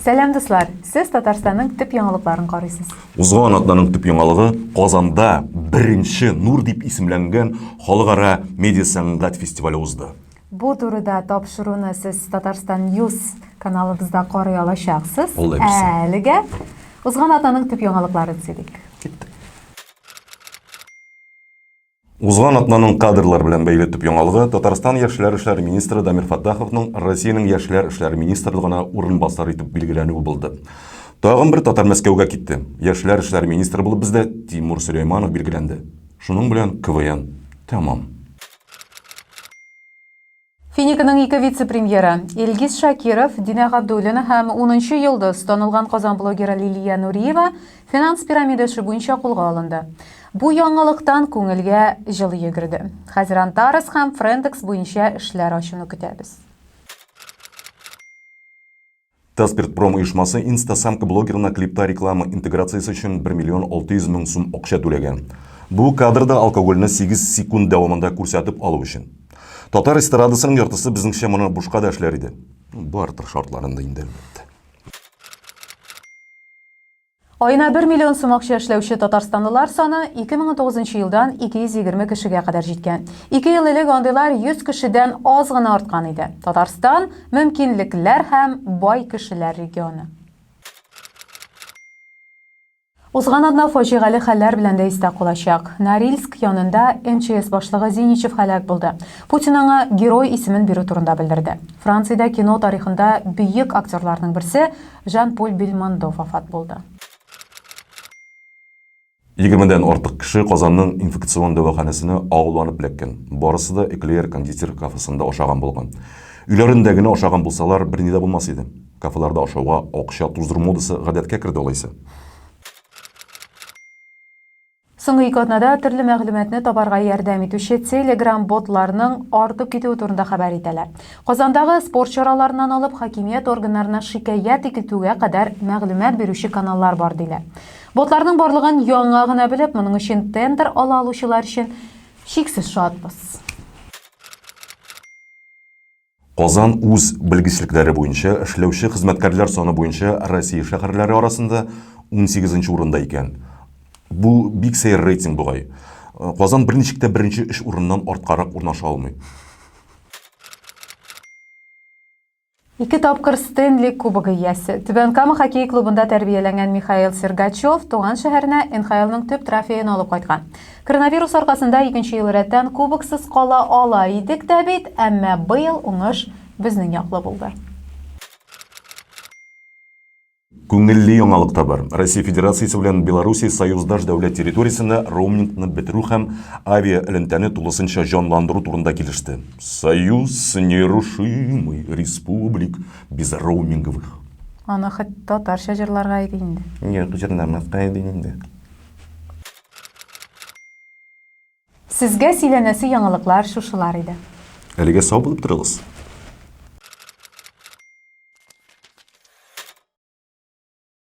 Сәлам дуслар! Сез Татарстанның төп яңалыкларын карыйсыз. Узган атнаның төп яңалыгы Казанда беренче Нур дип исемләнгән халыкара медиа сәнгать фестивале узды. Бу турыда тапшыруны сез Татарстан News каналыбызда карый алачаксыз. Әлегә узган атнаның төп яңалыкларын сөйлик. Киттек. Узган атнаның кадрлар белән бәйле төп яңалыгы Татарстан яшьләр эшләре министры Дамир Фаттаховның Россиянең яшьләр эшләре министрлыгына урынбасар итеп билгеләнүе булды. Тагын бер татар Мәскәүгә китте. Яшьләр эшләре министры булып бездә Тимур Сөләйманов билгеләнде. Шуның белән КВН тәмам. Финиканың ике вице-премьеры, Илгиз Шакиров, Динә Габдуллина һәм унынчы йолдыз, танылган Казан блогеры Лилия Нуриева финанс пирамидасы буенча кулга алынды. Бу яңалыктан күңелгә җылы йөгерде. Хәзер Антарес һәм Френдекс буенча эшләр ачуны көтәбез. Таспиртпром оешмасы инстасамка блогерына клипта реклама интеграциясе өчен 1 миллион 600 мең сум акча түләгән. Бу кадрда алкогольне 8 секунд дәвамында күрсәтеп алу өчен. Татар эстрадасының яртысы безнеңчә моны бушка да эшләр иде. Бартер шартларында инде, әлбәттә. Аена бер миллион сум акча эшләүче татарстанлылар саны 2009 елдан 220 кешегә кадәр җиткән. Ике ел элек андыйлар 100 кешедән аз гына арткан иде. Татарстан, мөмкинлекләр һәм бай кешеләр регионы. Узган атна фаҗигале хәлләр белән дә истә калачак. Норильск янында МЧС башлыгы Зиничев һәлак булды. Путин аңа Герой исемен бирү турында белдерде. Франциядә кино тарихында бөек актерларның берсе, Жан-Поль Бельмондо вафат булды. Егермедән артык кеше Казанның инфекцион дәваханәсенә агуланып эләккән. Барысы да Эклеер кондитер кафесында ашаган булган. Өйләрендә генә ашаган булсалар, берни дә булмас иде. Кафеларда ашауга акча туздыру модасы гадәткә керде алайса. Соңгы ике атнада төрле мәгълүматны табарга ярдәм итүче телеграм-ботларның артып китүе турында хәбәр итәләр. Казандагы спорт чараларыннан алып хакимият органнарына шикаять итүгә кадәр мәгълүмат бирүче каналлар бар диләр. Ботларның барлыгын яңа гына белеп, моның өчен тендер ала алучылар өчен чиксез шатбыз. Казан үз белгечлекләре буенча эшләүче хезмәткәрләр саны буенча Россия шәһәрләре арасында унсигезенче урында икән. Бу бик сәер рейтинг бугай. Казан берничек тә беренче өч урыннан арткарак урнаша алмый. Ике тапкыр Стенли Кубогы иясе, Түбән Кама хоккей клубында тәрбияләнгән Михаил Сергачев туган шәһәренә НХЛның төп трофеен алып кайткан. Коронавирус аркасында икенче ел рәттән кубоксыз кала ала идек тә бит, әмма быел уңыш безнең яклы булды. Күңелле яңалык та бар. Россия Федерациясе белән Белоруссия союздаш дәүләт территориясендә роумингны бетерү һәм авиаэлемтәне тулысынча җанландыру турында килеште. Союз нерушимый республик без роуминговых. Аны хоть татарча җырларга иде инде. Юк, җырламаска иде инде. Сезгә сөйләнәсе яңалыклар шушылар иде. Әлегә сау булып торыгыз.